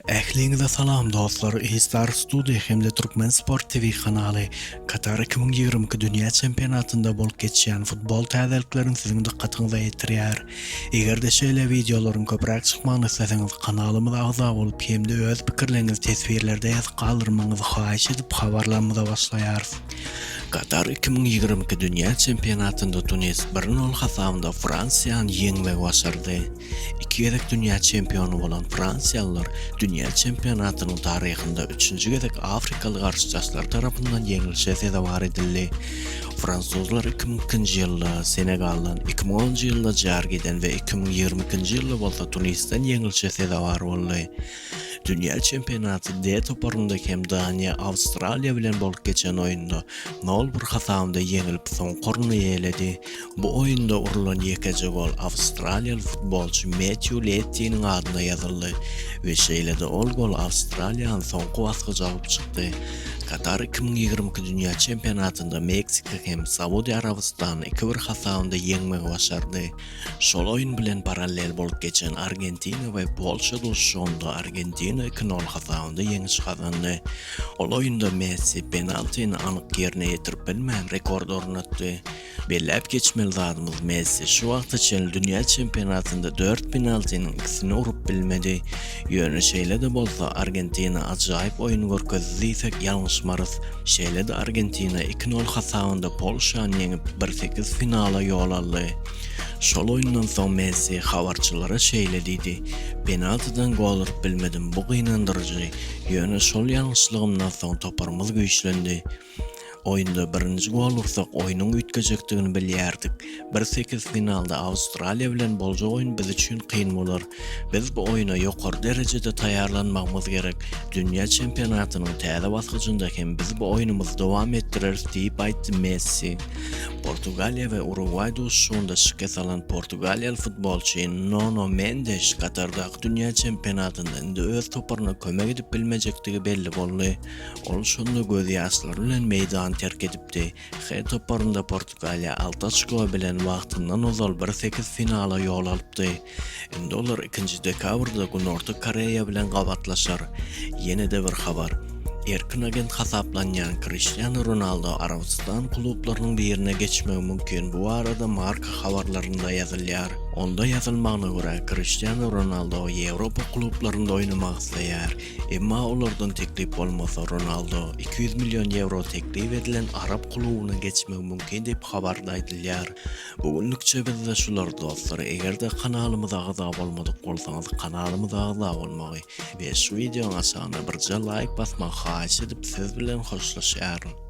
Ähliňize salam dostlar E-star studio hem-de Türkmen sport TV kanaly Katar iki müň ýigrimi iki dünýä çempionatynda bolup geçýän futbol täzeliklerini siziň dykgatyňyza ýetirýär. Eger-de şeýle wideolaryň köpräk çykmagyny isleseňiz kanalymyza agza bolup hem-de öz pikirleriňizi teswirlerde ýazyp galdyrmagyňyzy haýyş edip habarlarymyza başlaýarys. Katar iki müň ýigrimi iki dünýä çempionatynda Tunis bir nol hasabynda Fransiýany ýeňmegi başardy. Iki gezek dünýä çempiony bolan fransiýalylar dünýä çempionatynyň taryhynda üçünji gezek afrikaly garşydaşlary tarapyndan ýeňlişe sezewar edildi. Fransuzlar iki müň ikinji ýylda Senegaldan, iki müň onunjy ýylda Jargiden we iki müň ýigrimi ikinji ýylda bolsa Tunisden ýeňlişe sezewar boldy. Dünýä çempionaty D toparynda hem Daniýa Awstraliýa bilen bolup geçen oýunda nol bir hasabynda ýeňilip soňky orny eýeledi. Bu oýunda urlan ýekeje gol awstraliýaly futbolçy Metýu Lettiniň adyna ýazyldy we şeýle-de ol gol Awstraliýany soňky basgaça alyp çykdy. Katar iki müň ýigrimi iki dünýä çempionatynda Meksika hem Saudiýa Arabystany iki bir hasabynda ýeňmegi başardy. Şol oýun bilen parallel bolup geçen Argentina we Polşa duşuşygynda Argentina iki nol hasabynda ýeňiş gazandy. Ol oýunda Messi penaltini anyk ýerine ýetirip bilmän rekord ornatdy. Belläp geçmeli zadymyz Messi şu wagta çenli dünýä çempionatynda dört penaltiniň ikisini urup bilmedi. Ýöne şeýle-de bolsa Argentina ajaýyp oýun görkezdi diýsek ýalňyşmarys. Şeýle-de Argentina iki nol hasabynda Polşany ýeňip, bir sekiz finala ýol aldy. Şol oýundan soň Messi habarçylara şeýle diýdi, Penaltidan gol urup bilmedim, bu gynandyryjy. Ýöne şol ýalňyşlygymdan soň toparymyz güýçlendi. Oýunda birinji gol ursak, oýnuň üýtgejekdigini bilýärdik. Bir sekiz finalda Awstraliýa bilen boljak oýun biz üçin kyn bolar. Biz bu oýna ýokary derejede taýýarlanmagymyz gerek. Dünýä çempionatynyň täze basgyjynda hem biz bu oýnumyzy dowam etdireris diýip aýtdy Messi. Portugaliýa we Urugwaý duşuşygynda şikes alan portugaliýaly futbolçy Nono Mendeş Katardaky dünýä çempionatynda indi öz toparyna kömek edip bilmejekdigi belli boldy. Ol şonda gözýaşlary bilen meýdany terk edipdi. H toparynda Portugaliýa alty oçko bilen wagtyndan ozal bir sekiz finala ýol alypdy. Indi olar ikinji dekabrda Günorta Koreýa bilen gabatlaşar. Ýene-de bir habar. Erkin agent hasaplanýan Kriştianu Ronaldo Arabystan klublarynyň birine geçmegi mümkin, bu barada Marca habarlarynda ýazylýar. Onda ýazylmagyna görä, Kriştianu Ronaldo Ýewropa klublarynda oýnamak isleýär. Emma olardan teklip bolmasa, Ronaldo iki ýüz million ýewro teklip edilen arap klubyna geçmegi mümkin diýip, habarda aýdylýar. Bu günlükçe bizde şular dostlar, eger-de kanalymyza agza bolmadyk bolsaňyz kanalymyza agza bolmagy we şu wideoň aşagyna birje laýk basmagy haýyş edip siz bilen hoşlaşýaryn.